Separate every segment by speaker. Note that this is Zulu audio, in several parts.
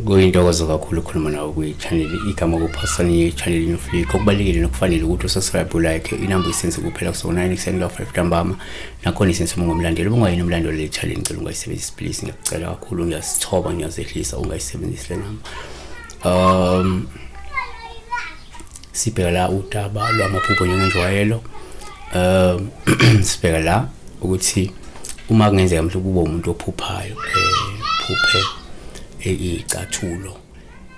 Speaker 1: kuyintokozo kakhulu ukukhuluma nawe kwi-channel igama kuphasana ye-channel inoflika okubalulekile nokufanele ukuthi usubscribe ulike inamba isense kuphela kusona ekuseni ka-five ntambama nakhona isense uma ungumlandeli uba ungayini umlandeli le channel ngicela ungayisebenzisi please ngiyakucela kakhulu ngiyasithoba ngiyazehlisa ungayisebenzisi le namba um sibheka la udaba lwamaphupho njengenjwayelo um sibheka la ukuthi uma kungenzeka mhlawumbe kube umuntu ophuphayo um phuphe icathulo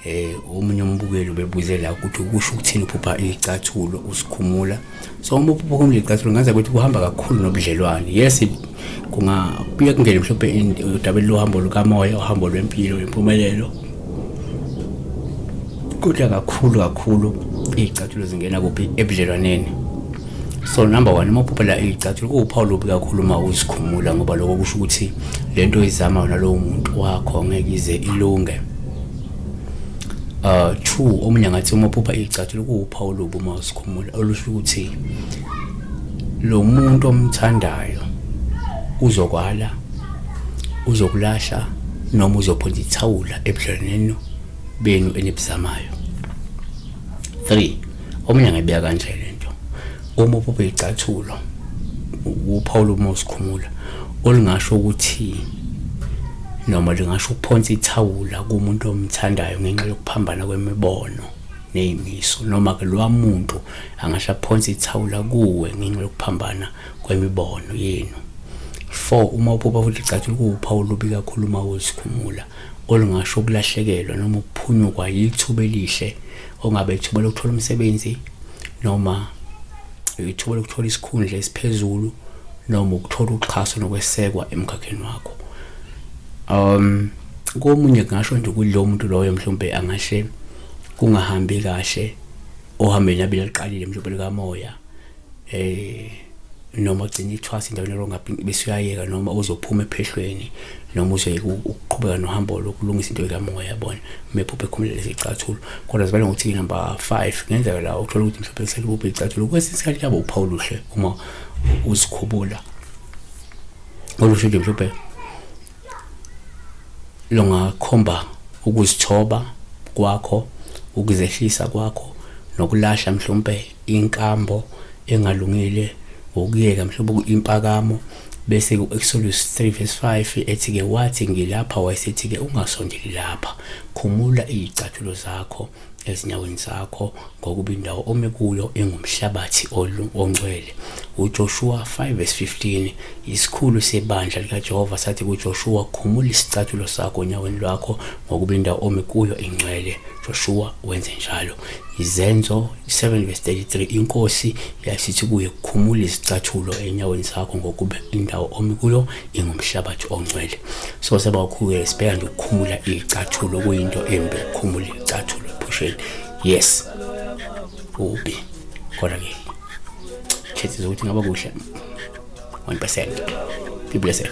Speaker 1: um omunye umbukeli ubebuze la ukuthi kusho ukuthini uphupha icathulo usikhumula um so uma uphupha umlicathulo ngaze ukuthi kuhamba kakhulu nobudlelwane yes kunga kuye kungene mhlawumbe udabeni lohambo lukamoya uhambo lwempilo impumelelo kodwa kakhulu kakhulu iy'cathulo zingena kuphi ebudlelwaneni so number one uma uphuphela iy'cathulo kuwuphawu lubi kakhulu uma uzikhumula ngoba lokho kusho ukuthi le nto oyizama yona lowo muntu wakho ngeke ize ilunge uh true omunye ngathi uma phupha icathulo kuwuphawu lobu uma usikhumula olusho ukuthi lo muntu omthandayo uzokwala uzokulahla noma uzophonsa ithawula ebudlelwaneni benu enibuzamayo 3 omunye ngayibeka kanje lento Uma uphupha icathulo uphawula uma usikhumula olingasho ukuthi noma lingasho ukuphonsa ithawula kumuntu omthandayo ngenxa yokuphambana kwemibono nezimiso noma ke lowa muntu angasho aphonsa ithawula kuwe ngenxa yokuphambana kwemibono yenu 4 uma uphupha futhi licathulo kuwuphawu olubi kakhulu uma uzikhumula olungasho ukulahlekelwa noma ukuphunyukwa yithuba elihle ongabe ithuba lokuthola umsebenzi noma ithuba lokuthola isikhundla esiphezulu noma ukuthola uxhaso nokwesekwa emkhakheni wakho um komunye kungasho nje ukuthi lo muntu loyo mhlawumbe angahle kungahambi kahle ohambeni abeliqalile mhlawumbe likamoya eh noma ugcina ithwasa endaweni elongaphi bese uyayeka noma uzophuma ephehlweni noma uzoyeka ukuqhubeka nohambo lokulungisa into ekamoya yabona mephuphe khumule lezi icathulo kodwa zibale ngokuthi inumber 5 ngenzeka la uthola ukuthi mhlawumbe selibuphe icathulo kwesinye isikhathi kuyaba uphawu luhle uma uzikhubula olusho nje mhlawumbe lungakhomba ukuzithoba kwakho ukuzehlisa kwakho nokulahla mhlawumbe inkambo engalungile wokuyeka mhlawumbe kuyimpakamo bese ku-Exodus 3 verse 5 ethi-ke wathi ngilapha wayesethi-ke ungasondeli lapha khumula izicathulo zakho ezinyaweni zakho ngokuba indawo ome kuyo engumhlabathi ongcwele uJoshua 5 verse 15 isikhulu sebandla likaJehova sathi kuJoshua khumula isicathulo sakho onyaweni lwakho ngokuba indawo ome kuyo ingcwele Joshua wenze njalo. Izenzo 7 verse 33 inkosi yasithi kuye khumula izicathulo enyaweni zakho ngokuba indawo omi kuyo ingumhlabathi ongcwele. So seba ukhuye sibheka nje ukukhumula izicathulo kuyinto embi ukukhumula izicathulo ephusheni. Yes. Ubi. Kodwa ke khethiza ukuthi ngaba kuhle 1%. Be blessed.